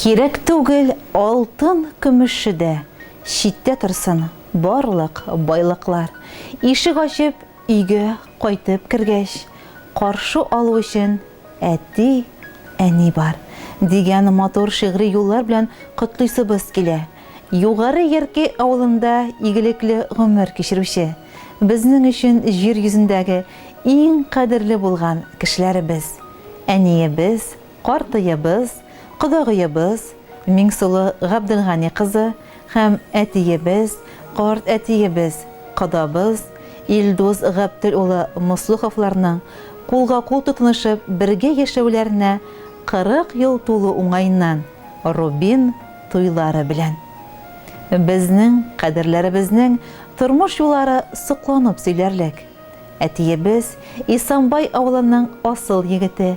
Кирәк түгел алтын көмеше дә, Читтә торсын барлык байлыклар. Ишек ачып өйгә кайтып кергәч, Каршы алу өчен әти, әни бар, дигән матур шигъри юллар белән котлыйсыбыз килә. Югары Яркәй авылында игелекле гомер кичерүче, безнең өчен җир йөзендәге иң кадерле булган кешеләребез, әниебез, Картыебыз, кодагыебыз Миңсылу Габделгани кызы һәм әтиебез, карт әтиебез, кодабыз Илдус Габтел улы Муслуховларның кулга-кул тотынышып бергә яшәүләренә 40 ел тулу уңаеннан Рубин туйлары белән! Безнең кадерләребезнең тормыш юллары сокланып сөйләрлек. Әтиебез Исанбай авылының асыл егете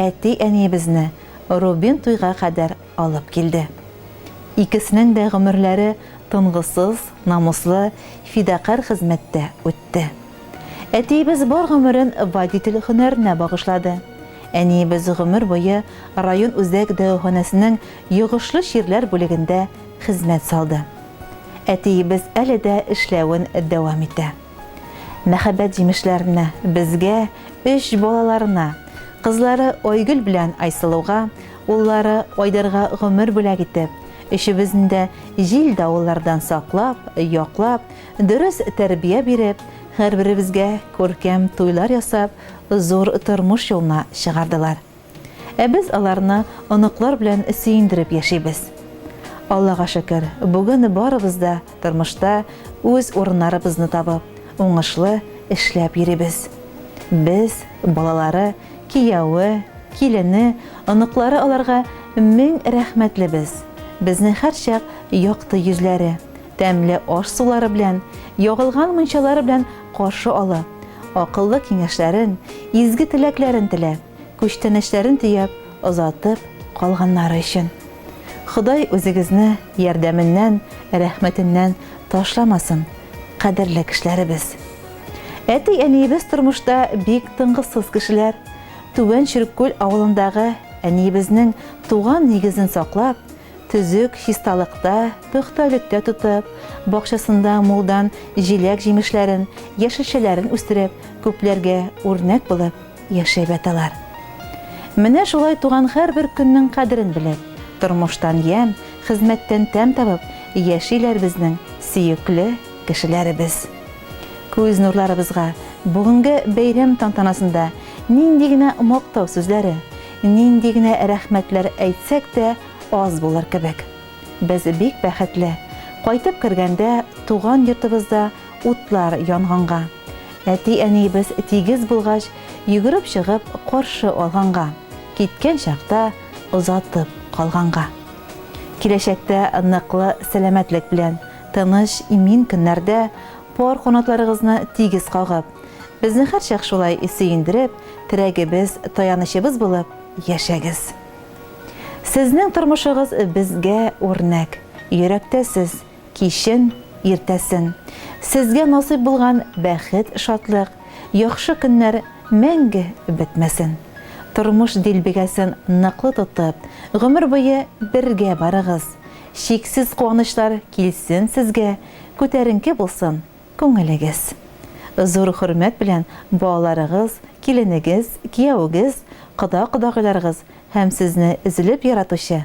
Әти-әниебезне Рубин туйга кадәр алып килде. Икесенең дә гомерләре тынгысыз, намуслы, фидакарь хезмәттә үтте. Әтиебез бар гомерен водитель һөнәренә багышлады. Әниебез гомер буе район үзәк дәваханәсенең йогышлы чирләр бүлегендә хезмәт салды. Әтиебез әле дә эшләвен дәвам итә. Мәхәббәт җимешләренә, безгә, өч балаларына, кызлары Айгөл белән Айсылуга, уллары Айдарга гомер бүләк итеп, өчебезне дә җил-давыллардан саклап, яклап, дөрес тәрбия биреп, һәрберебезгә күркәм туйлар ясап, зур тормыш юлына чыгардылар. Ә без аларны оныклар белән сөендереп яшибез. Аллага шөкер, бүген барыбыз да тормышта үз урыннарыбызны табып, уңышлы эшләп йөрибез. Без, балалары, кияве, килене, оныклары аларга мең рәхмәтлебез. Безне һәрчак якты йөзләре, тәмле аш-сулары белән, ягылган мунчалары белән каршы алып, акыллы киңәшләрен, изге теләкләрен теләп, күчтәнәчләрен төяп озатып калганнары өчен. Ходай үзегезне ярдәменнән, рәхмәтеннән ташламасын, кадерле кешеләребез. Әти-әниебез тормышта бик тынгысыз кешеләр. Түбән Чөреккүл авылындагы әниебезнең туган нигезен саклап, төзек чисталыкта, пөхтәлектә тотып, бакчасында мулдан җиләк-җимешләрен, яшелчәләрен үстереп, күпләргә үрнәк булып, яшәй бәт алар. Менә шулай туган һәрбер көннең кадерен белеп, тормыштан ямь, хезмәттән тәм табып яшиләр безнең сөекле кешеләребез. Күз нурларыбызга бүгенге бәйрәм тантанасында нинди генә мактау сүзләре, нинди генә рәхмәтләр әйтсәк тә аз булыр кебек. Без бик бәхетле, кайтып кергәндә туган йортыбызда Утлар янганга. Әти-әниебез тигез булгач, йөгереп чыгып каршы алганга. Киткән чакта озатып калганга. Киләчәктә ныклы сәламәтлек белән, тыныч, имин көннәрдә пар канатларыгызны тигез кагып, безне һәрчак шулай сөендереп, терәгебез, таянычыбыз булып яшәгез. Сезнең тормышыгыз безгә үрнәк. Йөрәктә сез. кичен, иртәсен. Сезгә насыйп булган бәхет, шатлык, яхшы көннәр мәңге бетмәсен. Тормыш дилбегәсен ныклы тотып, гомер буе бергә барыгыз. Чиксез куанычлар килсен сезгә, күтәренке булсын күңелегез. Зур хөрмәт белән балаларыгыз, киленегез, кияүегез, кода-кодагыйларыгыз һәм сезне өзелеп яратучы